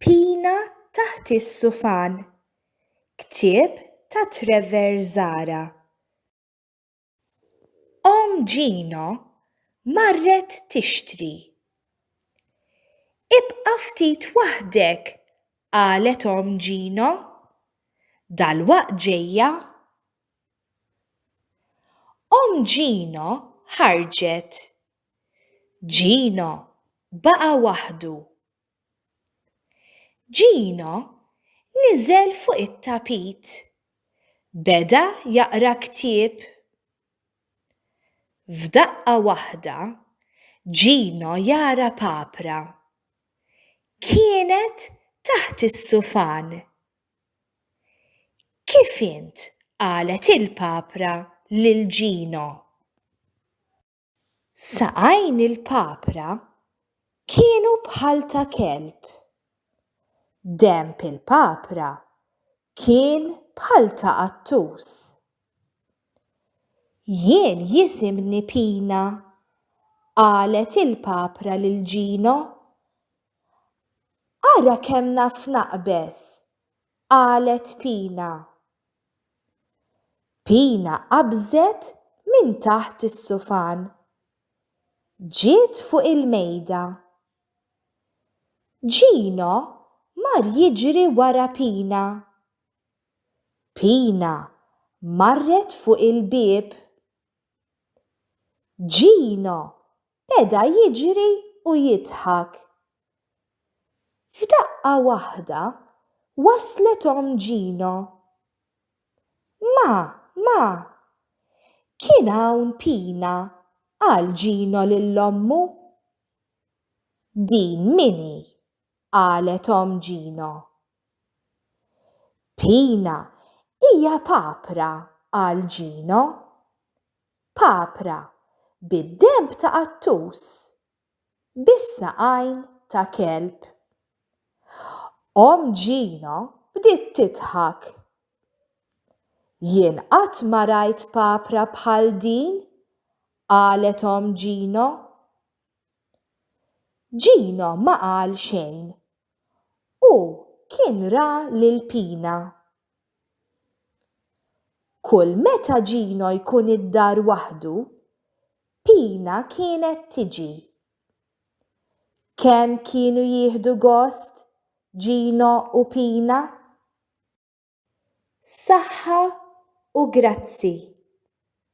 Pina taħt is-sufan, ktieb ta' Trevor Zahra. Omm Gino marret tixtri. Ibqa' ftit waħdek, qalet omm Gino. Dalwaqt ġejja. Omm Gino ħarġet Gino baqa' waħdu. Gino niżel fuq it-tapit. Beda jaqra ktieb. F'daqqa waħda Gino jara papra. Kienet taħt is-sufan. Kif int? qalet il-papra lil Gino. Saqajn il-papra kienu bħal ta' kelb. Denb il-papra kien bħal ta' qattus. Jien jisimni Pina, qalet il-papra lil Gino. Ara kemm naf naqbeż qalet Pina. Pina qabżet minn taħt is-sufan. Ġiet fuq il-mejda. Gino mar jiġri wara Pina. Pina marret fuq il-bieb. Gino beda jiġri u jidħak. F'daqqa waħda waslet omm Gino. Ma, ma! Kien hawn Pina, qal Gino lil ommu. Din min hi? qalet omm Gino. Pina, hija papra, qal Gino. Papra, bid-denb ta' qattus, bis-saqajn ta' kelb. Omm Gino bdiet tidħak. Jien qatt ma rajt papra bħal din, qalet omm Gino. Gino ma qal xejn. Hu kien ra lil Pina. Kull meta Gino jkun id-dar waħdu, Pina kienet tiġi. Kemm kienu jieħdu gost Gino u Pina? Saħħa u grazzi.